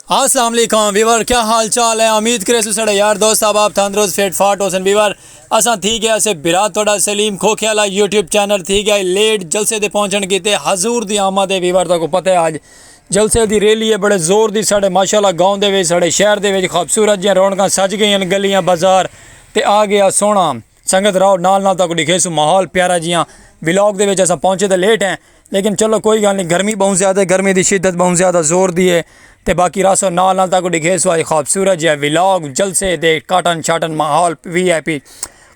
السلام علیکم ویور کیا حال چال ہے امید کرے سو سڑے یار دوست صاحب آپ تھندروز فیٹ فاٹ ہوسن ویور اساں تھی گیا اسے برا توڑا سلیم کھوکھے والا یوٹیوب چینل تھی گیا لیٹ جلسے دے پہنچن کی تے حضور دی آمد ہے ویور تاکو پتہ ہے آج جلسے دی ریلی ہے بڑے زور دی سڑے ماشاءاللہ گاؤں دے ویج سڑے شہر دے ویج خوبصورت جیاں رونکاں سج گئی ہیں گلیاں بازار تے آ گیا سونا سنگت راؤ نال نال تاکو ڈکھے سو ماحول پیارا جیاں ولاگ دے وچ اساں پہنچے تے لیٹ ہیں لیکن چلو کوئی گال نہیں گرمی بہوں زیادہ ہے گرمی دی شدت بہوں زیادہ زور دی ہے تے باقی راسو نال نال تاکو ڈکھے سو آئی خوبصورت جیاں ولاگ جلسے دے کاٹن شاٹن ماحول وی آئی پی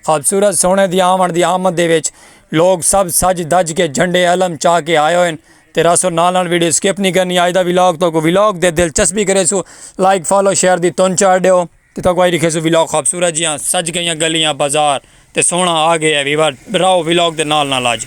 خوبصورت سونے دی آمن دی آمد دے وچ لوگ سب سج دج کے جھنڈے علم چا کے آئے ہوئے ہیں تے راسو نال نال ویڈیو سکپ نہیں کرنی آئی دا ولاگ تاکو ولاگ دے دلچسپی کرے سو لائک فالو شیئر دی تون چاڑ دے ہو تے تاکوں آئی رکھیسوں ولاگ خوبصورت جیاں سج گئیاں گلیاں بازار تے سوہنڑاں آ گئے ہے ویور راہو ولاگ دے نال نال آج۔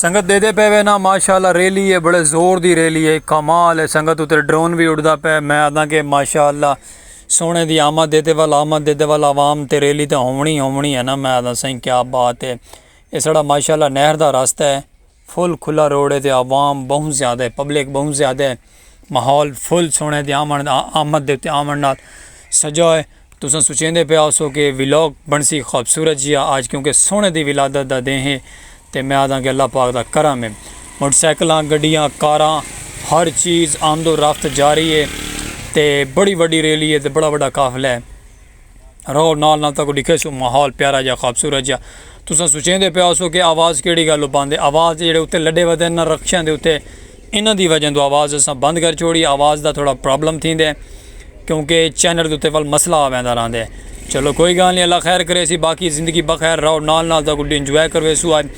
سنگت دیدے پے وے نا ماشاءاللہ ریلی اے بڑے زور دی ریلی اے کمال اے سنگت اترے ڈرون وی اڑدا پے میں آدھاں کہ ماشاءاللہ سونے دی آمد اے تے ول آمد اے تے ول عوام تے ریلی تے ہونی ہونی اے نا میں آدھاں سائیں کیا بات اے اے ساڑا ماشاءاللہ نہر دا راستہ اے فل کھلا روڈ اے تے عوام بہوں زیادہ اے پبلک بہوں زیادہ اے۔ ماحول فل سوہݨے تے آوݨ دا آمد دے اتے آوݨ نال سجا ہے تساں سوچیندے پئے ہوسو کہ ولاگ بݨسی خوبصورت جیا آج کیونکہ سوہݨے دی ولادت دا ݙینہہ ہے تے میں آہداں کہ اللہ پاک دا کرم ہے موٹر سائیکلاں گڈیاں کاراں ہر چیز آمد و رفت جاری ہے تے بڑی وڈی ریلی ہے تے بڑا وڈا قافلہ ہے۔ رہو نال نال تاکو ڈکھے سو ماحول پیارا جا خوبصورت جا تساں سوچیں دے پیا سو کہ آواز کیڑی گل بند ہے آواز جڑے اتے لڈے ودے نہ رکشاں دے اتے انہاں دی وجہ دو آواز اساں بند کر چھوڑی آواز دا تھوڑا پرابلم تھیں دے کیونکہ چینل اتے ول مسئلہ آویں دا رہندے چلو کوئی گال نہیں اللہ خیر کرے سی باقی زندگی بخیر رہو نال نال تاکو ڈی انجوائے کروے سو آئے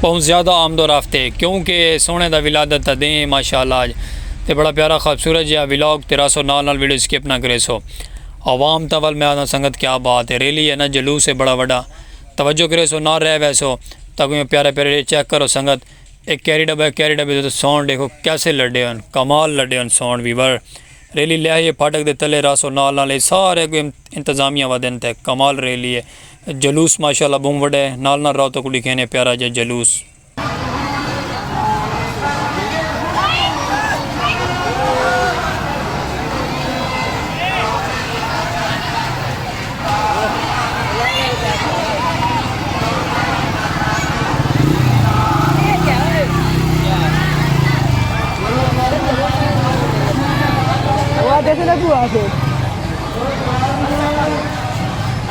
بہوں زیادہ آمد و رفت اے کیوں کہ اے سوہنے دا ولادت دا دیں اے ماشاءاللہ اج تے بڑا پیارا خوبصورت جیہا ولاگ تے راسو نال نال ویڈیو سکپ نہ کریسو عوام تاں ول میں آکھداں سنگت کیا بات اے ریلی اے نہ جلوس اے بڑا وڈا توجہ کریسو نال رہ ویسو تاکوں یو پیارے پیارے اے چیک کرو سنگت اے کیری ڈبہ اے کیری ڈبے دے ساؤنڈ ڈیکھو کیسے لڈے ہن کمال لڈے ہن ساؤنڈ وی ول ریلی لہیے پھاٹک دے تلے راسو نال نال اے سارے اگو انتظامیہ ودن تے کمال ریلی اے جلوس ماشاءاللہ بہوں وڈا ہے نال نال راؤ تکوں ڈکھینے پیارا جا جلوس۔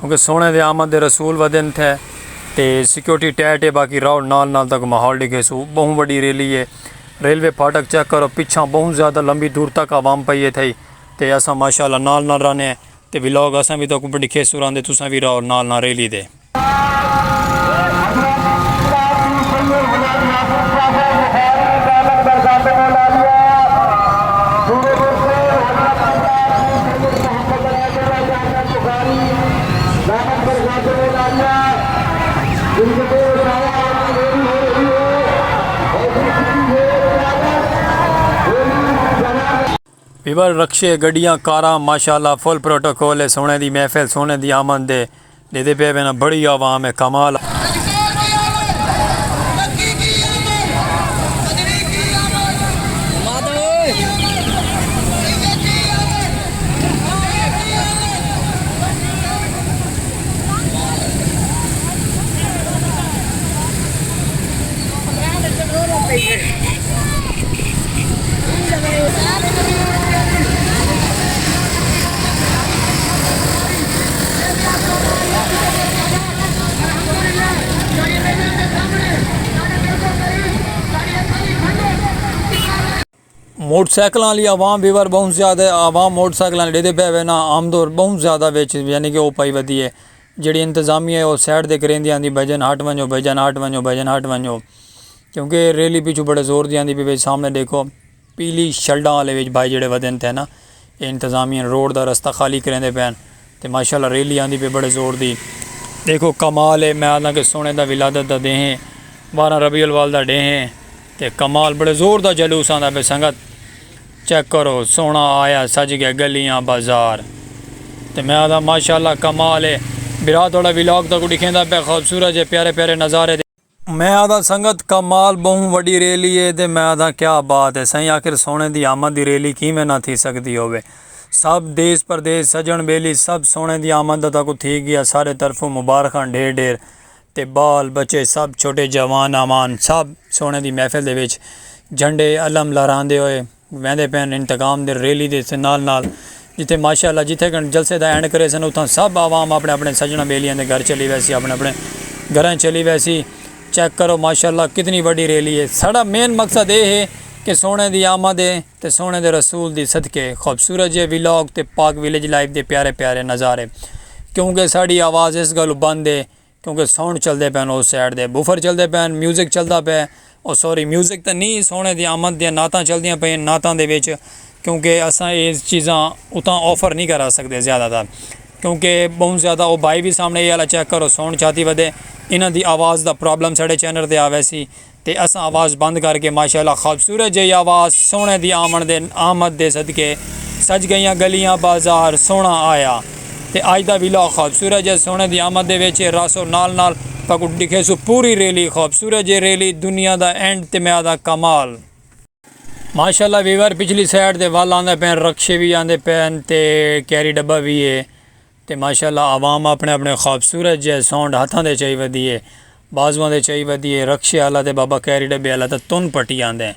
کیونکہ سوہݨے دے آمد دے رسول ودھن تھے تے سکیورٹی ٹائٹ اے باقی راؤڈ نال نال تک ماحول ݙکھیسو ٻہوں وݙی ریلی اے ریلوے پھاٹک چیک کرو پچھاں ٻہوں زیادہ لمبی دور تک عوام پئی اے تھئی تے اساں ماشاءاللہ نال نال رہنے تے ولاگ اساں وی تہاکوں ݙکھیسوں راہندے تساں وی راہو نال نال ریلی دے۔ پیور رکشے، گڈیاں، کاراں ماشاءاللہ فل پروٹوکول اے سوہݨے دی محفل سوہݨے دی آمد دے ݙیندے پئے وینا بڑی عوام ہے کمال ہے۔ موٹر سائیکلاں والی عوام بھی وار بہت زیادہ ہے عوام موٹر سائیکلاں لے دے پے ہوئے نا عام دور بہت زیادہ ویچ یعنی کہ او پائی ودی ہے جڑی انتظامی ہے او سیڈ دے کریں دیاں دی بھجن ہٹ ونجو بھجن ہٹ ونجو بھجن ہٹ ونجو کیونکہ ریلی پیچھو بڑے زور دیاں دی بھی سامنے دیکھو پیلی شلڈاں آلے وچ بھائی جیڑھے ودھن تھے نا اے انتظامیہ روڈ دا رستہ خالی کریندے پئن تے ماشاءاللہ ریلی آندی پئی بڑے زور دی ڈیکھو کمال اے میں آدھاں کہ سونے دا ولادت دا دیں ہے بارہ ربیع الاول دا ڈیں ہے تے کمال بڑے زور دا جلوس آندا پئے سنگت چیک کرو سونا آیا سج گئے گلیاں بازار تے میں آدھاں ماشاءاللہ کمال اے برا تہاڈا ولاگ تہاکوں ڈکھیندا پئے خوبصورت جے پیارے پیارے نظارے۔ میں آدھاں سنگت کمال بہوں وڈی ریلی ہے تے میں آدھاں کیا بات ہے سائیں آخر سونے دی آمد دی ریلی کیویں نہ تھی سگدی ہووے سب دیس پردیس سجن بیلی سب سونے دی آمد دا تاکو تھی گیا سارے طرفوں مبارخاں ڈھیر ڈھیر تے بال بچے سب چھوٹے جوان آوان سب سونے دی محفل دے وچ جھنڈے علم لہراندے ہوئے ویندے پئن انتقام دی ریلی دے نال نال جتھے ماشاء اللہ جتھے کن جلسے دا اینڈ کریسن اتھاں سب عوام اپنڑے اپنڑے سجنڑاں بیلیاں دے گھر چلی ویسی اپنڑے اپنڑے گھراں چلی ویسی چیک کرو ماشاء اللہ کتنی وڈی ریلی ہے ساڈا مین مقصد اے ہے کہ سوہنڑے دی آمد ہے تے سوہنڑے دے رسول دی صدقے خوبصورت جے ولاگ تے پاک ولیج لائف دے پیارے پیارے نظارے کیونکہ ساڈی آواز اس گلوں بند ہے کیونکہ ساؤنڈ چلدے پئے ہن اس سائیڈ دے بوفر چلدے پئے ہن میوزک چلدا پئے او سوری میوزک تاں نی سوہݨے دی آمد دیاں نعتاں چلدیاں پئے ہن نعتاں دے وچ کیونکہ اساں اے چیزاں اتھاں آفر نی کرا سڳدے زیادہ تر کیونکہ ٻہوں زیادہ او بھائی وی سامݨے اے آلا چیک کرو ساؤنڈ چاتی ودے انہاں دی آواز دا پرابلم ساݙے چینل تے آ ویسی۔ تے اساں آواز بند کر کے ماشاءاللہ خوبصورت جئی آواز سوہݨے دی آمݨ دے آمد دے صدقے سج گئیاں گلیاں بازار سوہݨا آیا تے اج دا ویلاگ خوبصورت جئے سوہݨے دی آمد دے وچ اے راسو نال نال تہاکوں ݙکھیسوں پوری ریلی خوبصورت جئی ریلی دنیا دا اینڈ تے میں آہدا کمال۔ ماشاءاللہ ویور پچھلی سائیڈ تے ول آندے پئن رکشے وی آندے پئن تے کیری ڈبہ وی اے۔ تے ماشاءاللہ عوام اپݨے اپݨے خوبصورت جئے سونڈ ہتھاں دے چائی ودی اے بازواں دے چائی ودی اے رکشے آلا تے بابا کیری ڈبے آلا تاں تن پٹی آندیں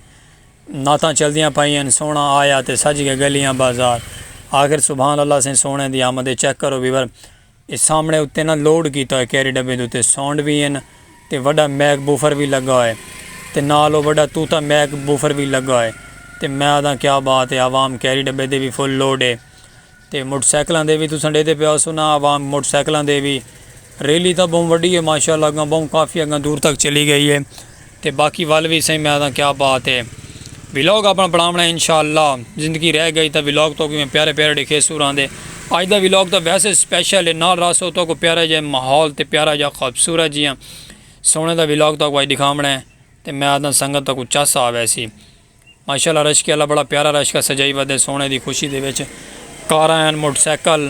نعتاں چلدیاں پائی ہن سوہݨا آیا تے سج گئے گلیاں بازار آخر سبحان اللہ سئیں سوہݨے دی آمد اے چیک کرو ویور اے سامݨے اتے نہ لوڈ کیتا ہوئے کیری ڈبے دے اتے سونڈ وی ہن تے وڈا میک بوفر وی لگا ہوئے تے نال او وڈا طوطا میک بوفر وی لگا ہوئے تے میں آدھاں کیا بات اے عوام کیری ڈبے دے وی فل لوڈ اے تے موٹر سائیکلاں دے وی تساں ڈیدے پے ہاؤسو نا عوام موٹر سائیکلاں دے وی ریلی تاں بہوں وڈی ہے ماشاءاللہ اگاں بہوں کافی اگاں دور تک چلی گئی ہے تے باقی ول وی سائیں میں آدھاں کیا بات ہے ولاگ اپنا بناونا ہے انشاءاللہ زندگی رہ گئی تاں ولاگ تو میں پیارے پیارے ڈیکھے سو راندے اج دا ولاگ تاں ویسے سپیشل ہے نال راسو تو کو پیارا جے ماحول تے پیارا جا خوبصورت جیاں سونے دا ولاگ تو کو اج دکھاونا ہے تے میں آدھاں سنگت تو کو چس آوے سی ماشاءاللہ رشکے آلا بڑا پیارا رشکا سجائی ودے سوہنے دی خوشی دے وچ کاراں ہن موٹر سائیکل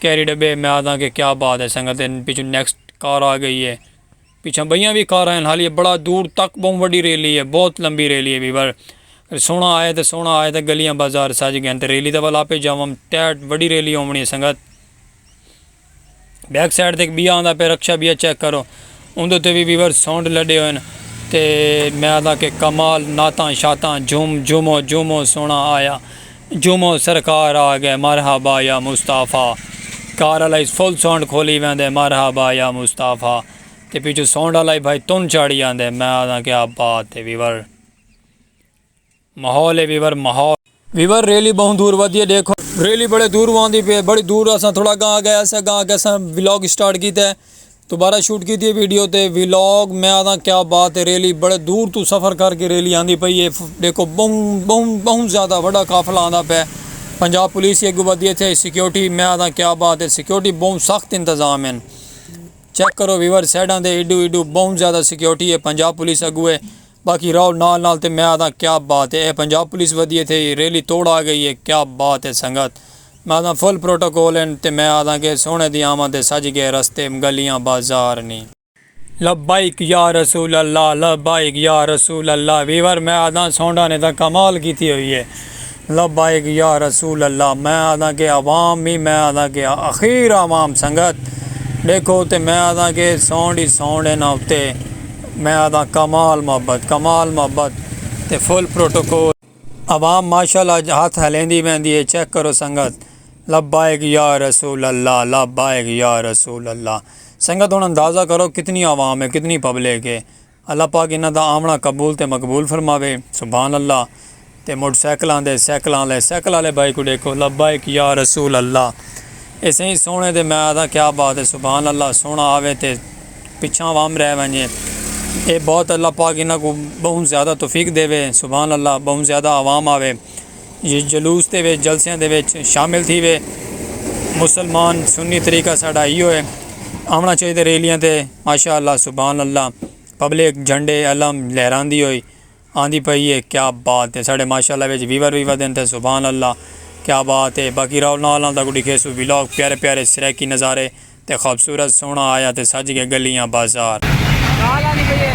کیری ڈبے میں آدھاں کہ کیا بات ہے سنگت تے پچھوں نیکسٹ کار آ گئی ہے پچھاں بئیاں وی کاراں ہن حالیے بڑا دور تک بہوں وڈی ریلی ہے بہت لمبی ریلی ہے ویور سوہنا آئے تے سوہنا آئے تے گلیاں بازار سج گئے ہن تے ریلی دے ول آپے جاوم ٹیٹ وڈی ریلی ہوونی ہے سنگت۔ بیک سائیڈ تے ایک بیا آندا پہ رکشہ بیا چیک کرو اندو تے وی ویور ساؤنڈ لڈے ہوئے ہیں تے میں آدھا کہ کمال ناتاں شاتاں جھوم جھومو جھومو سونا آیا جھومو سرکار آ گئے مرحبا یا مصطفی کار آلائی فل ساؤنڈ کھولی وین دے مرحبا یا مصطفی تے پیچھو ساؤنڈ آلائی بھائی تن چاڑی آن دے میں آدھا کہ آپ بات ہے ویور ماحول اے ویور ماحول۔ ویور ریلی بہوں دور ودی اے ڈیکھو۔ ریلی بڑے دور واندی پی اے بڑی دور اساں تھوڑا گاں گئے اسے گاں آکے اساں ولاگ سٹارٹ کیتے دوبارہ شوٹ کیتی اے ویڈیو تے ولاگ میں آکھاں کیا بات اے ریلی بڑے دور توں سفر کر کے ریلی آندی پئی اے ڈیکھو بہوں بہوں زیادہ وڈا قافلہ آندا پے پنجاب پولیس ہی اگو ودی اتھے سیکورٹی میں آکھاں کیا بات اے سیکورٹی بہوں سخت انتظام ہن چیک کرو ویور سائیڈاں تے ایڈو ایڈو بہوں زیادہ سیکورٹی اے پنجاب پولیس اگو اے باقی راہل نال نال تے میں آدھاں کیا بات ہے اے پنجاب پولیس ودی ہے تھے ای ریلی توڑ آگئی ہے کیا بات ہے سنگت میں آدھاں فل پروٹوکول ہن تے میں آدھاں کہ سوہنے دی آمد ہے سج گئے رستے گلیاں بازار نی۔ لبیک یا رسول اللہ لبیک یا رسول اللہ ویور میں آدھاں سونڈا نے تاں کمال کیتی ہوئی ہے لبیک یا رسول اللہ میں آدھاں کہ عوام ہی میں آدھاں کہ اخیر عوام سنگت ڈیکھو تے میں آدھاں کہ ساؤنڈ ہی ساؤنڈ انہاں اتے میں آدھاں کمال محبت کمال محبت تے فل پروٹوکول۔ عوام مارشل اج ہتھ ہلیندی ویندی ہے چیک کرو سنگت لبیک یا رسول اللہ لبیک یا رسول اللہ سنگت ہن اندازہ کرو کتنی عوام ہے کتنی پبلک ہے۔ اللہ پاک انہاں دا آوݨا قبول تے مقبول فرماوے۔ سبحان اللہ تے موٹر سائیکل آندے سائیکلاں آلے سائیکل آلے بھائی کوں ݙیکھو لبیک یا رسول اللہ اے سئیں سوہݨے دے میں آہداں کیا بات اے سبحان اللہ سوہݨا آوے تے پچھاں عوام رہ ونڄے اے بہت اللہ پاک انہاں کوں ٻہوں زیادہ توفیق ݙیوے سبحان اللہ ٻہوں زیادہ عوام آوے۔ جلوس دے وچ جلسیاں دے وچ شامل تھیوے مسلمان سنی طریقہ ساڈا ای ہوئے آونا چاہیے ریلیاں تے ماشاء اللہ سبحان اللہ پبلک جھنڈے علم لہراندی ہوئی آندی پئی ہے کیا بات ہے ساڈے ماشاء اللہ وچ ویور وی ودن تے سبحان اللہ کیا بات ہے باقی راؤ نال نال تاکو ڈیکھے سو ولاگ پیارے پیارے سرائیکی نظارے تے خوبصورت سوہݨا آیا تے سج ڳئے ڳلیاں بازار۔ ڳالھ آندی پئی اے۔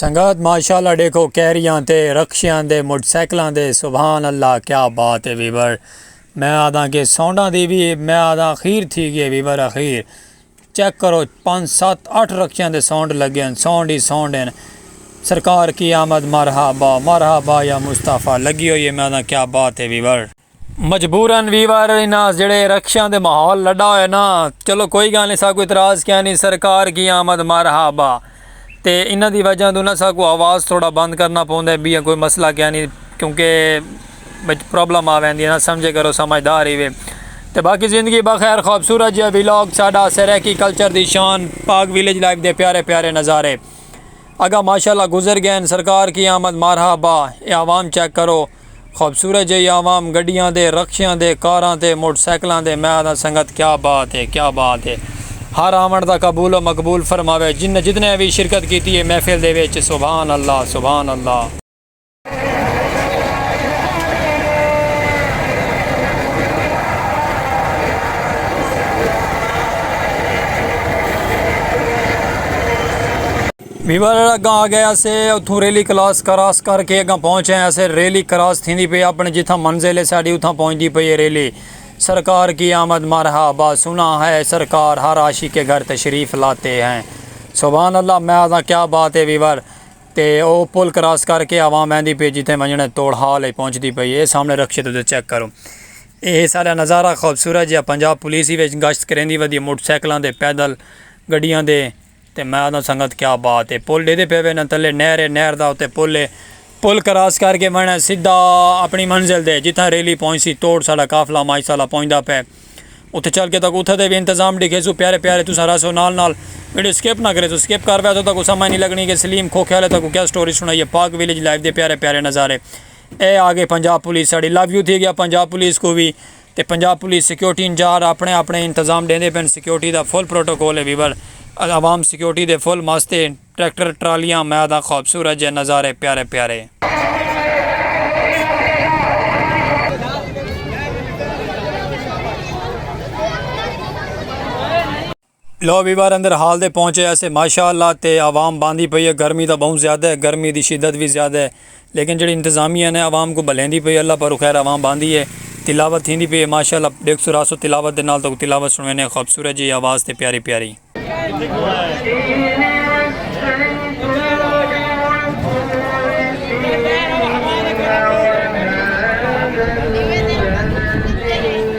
سنگت ماشاءاللہ ڈیکھو کیریاں تے رکشیاں دے موٹر سائیکلاں دے سبحان اللہ کیا بات ہے ویور میں آدھاں کہ سونڈاں دی بھی میں آدھاں اخیر تھی گئے ویور اخیر چیک کرو پانچ سات اٹھ رکشیاں دے سونڈ لگے ہیں سونڈ ہی سونڈ ہیں سرکار کی آمد مرحبا مرحبا یا مصطفیٰ لگی ہوئی ہے میں آدھاں کیا بات ہے ویور مجبورا وی وار انہاں جیڑھے رکشیاں دے ماحول لڈا ہویا نا چلو کوئی گال نی ساکو اعتراض کیانی سرکار کی آمد مرحبا تے انہاں دی وجہ توں نا ساکو آواز تھوڑا بند کرنا پوندے بیاں کوئی مسئلہ کیانی کیونکہ وچ پرابلم آ ویندی نا سمجھے کرو سمجھدار ہی وے تے باقی زندگی بخیر خوبصورت جیا ویلاگ ساڈا سرائیکی کلچر دی شان پاک ویلیج لائف دے پیارے پیارے نظارے اگا ماشاءاللہ گزر گئین سرکار کی آمد مرحبا اے عوام چیک کرو خوبصورت جئی عوام گڈیاں دے رکشیاں دے کاراں تے موٹر سائیکلاں دے میں آدھاں سنگت کیا بات ہے کیا بات ہے ہر آون دا قبول و مقبول فرماوے جنہ جتنیاں وی شرکت کیتی ہے محفل دے وچ سبحان اللہ سبحان اللہ۔ ویور اگاں آ گئے اسے اتھوں ریلی کلاس کراس کر کے اگاں پہنچ آئے اسے ریلی کراس تھیندی پئی اپنے جتھاں منزل ہے ساڈی اتھاں پہنچدی پئی ہے ریلی سرکار کی آمد مرحا با سنا ہے سرکار ہر عاشق کے گھر تشریف لاتے ہیں سبحان اللہ میں آزاں کیا بات ہے ویور تے او پل کراس کر کے عوام ویندی پئی جتھے ونجنے توڑ حال ہے پہنچدی پئی ہے سامنے رکشے تو چیک کرو اے سارا نظارہ خوبصورت جہاں پنجاب پولیس ہی وچ گشت کریندی ودی موٹر سائیکلاں دے پیدل گڈیاں دے تے میں آہداں سنگت کیا بات اے پل ڈیدے پئے وینداں تلے نہر اے نہر دا اتے پل اے پل کراس کر کے ونڑاں سدھا اپنڑی منزل دے جتھاں ریلی پہنچسی توڑ ساڈا قافلہ مائی سالہ پہنچدا پئے اتھے چل کے تاکوں اتھے دے وی انتظام ڈکھیسوں پیارے پیارے تساں رہسو نال نال ویڈیو سکپ نہ کریسو سکپ کر ویسو تاکوں سمجھ نی لگنی کہ سلیم کھوکھے آلے تاکوں کیا سٹوری سنڑائیے پاک ویلیج لائیو دے پیارے پیارے نظارے اے آگئی پنجاب پولیس ساڈی لو یو تھی گیا پنجاب پولیس کوں وی تے پنجاب پولیس سکیورٹی انجار اپنڑے اپنڑے انتظام ڈیندے پن سکیورٹی دا فل پروٹوکول اے ویور عوام سکیورٹی دے فل مست اے ٹریکٹر ٹرالیاں میاداں خوبصورت جے نظارے پیارے پیارے۔ لو وی بار اندر ہال دے پہنچے ہیسے ماشاء اللہ تے عوام باندھی پئی ہے گرمی تاں بہوں زیادہ ہے گرمی دی شدت وی زیادہ ہے لیکن جیڑھی انتظامیہ نے عوام کوں بھلیندی پئی ہے اللہ پروں خیر عوام باندھی ہے تلاوت تھیندی پئی ہے ماشاء اللہ ڈیکھ سو راسو تلاوت دے نال تہاکوں تلاوت سنڑویندے ہاں خوبصورت جیہی آواز تے پیاری پیاری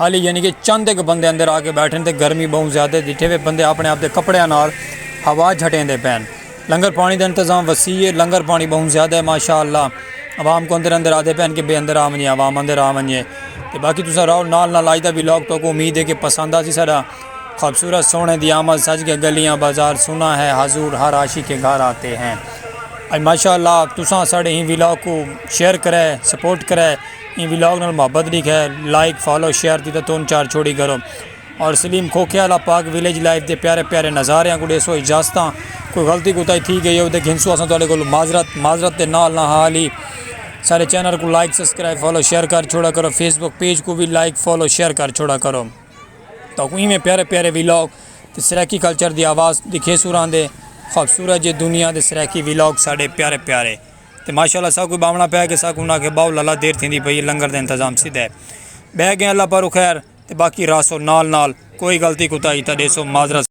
ہالی یعنی کہ چند ہک بندے اندر آ کے بیٹھن تے گرمی بہوں زیادہ ڈیٹھے وے بندے اپنے آپ دے کپڑیاں نال ہوا جھٹیندے پین لنگر پانی دا انتظام وسیع ہے لنگر پانی بہوں زیادہ ہے ماشاءاللہ عوام کو اندر اندر آدھے پین کہ بے اندر آ ونجے عوام اندر آ ونجے تے باقی تساں راؤ نال نال آج دا بھی لاگ تو کو امید ہے کہ پسند آسی ساڈا خوبصورت سونے دی آمد سج گئے گلیاں بازار سنا ہے حضور ہر عاشق کے گھر آتے ہیں ماشاءاللہ تساں ساڈے ہی ولاگ کو شیئر کرے سپورٹ کرے ایں ولاگ نال محبت دی خیر لائک فالو شیئر دی تاں تون چار چھوڑی کرو اور سلیم کھوکھے آلا پاک ویلیج لائف دے پیارے پیارے نظاریاں کوں ڈیسو اجازتاں کوئی غلطی کوتاہی تھی گئی ہوے تاں گھنسو اساں تہاڈے کولوں معذرت معذرت دے نال نہ حال ہی سارے چینل کوں لائک سبسکرائب فالو شیئر کر چھوڑا کرو فیس بک پیج کوں وی لائک فالو شیئر کر چھوڑا کرو تاں کوں ایویں پیارے پیارے ولاگ تے سرائیکی کلچر دی آواز دکھیسو راندے خوبصورت جے دنیا دے سرائیکی ولاگ ساڈے پیارے پیارے تے ماشاء اللہ ساکوں باونا پیا کہ ساکوں انہاں آکھیا باو لالا دیر تھیندی پئی ہے لنگر دا انتظام سدھا ہے بہہ گئے اللہ پاروں خیر تے باقی راہسو نال نال کوئی غلطی کوتاہی تاں ݙیسو معذرت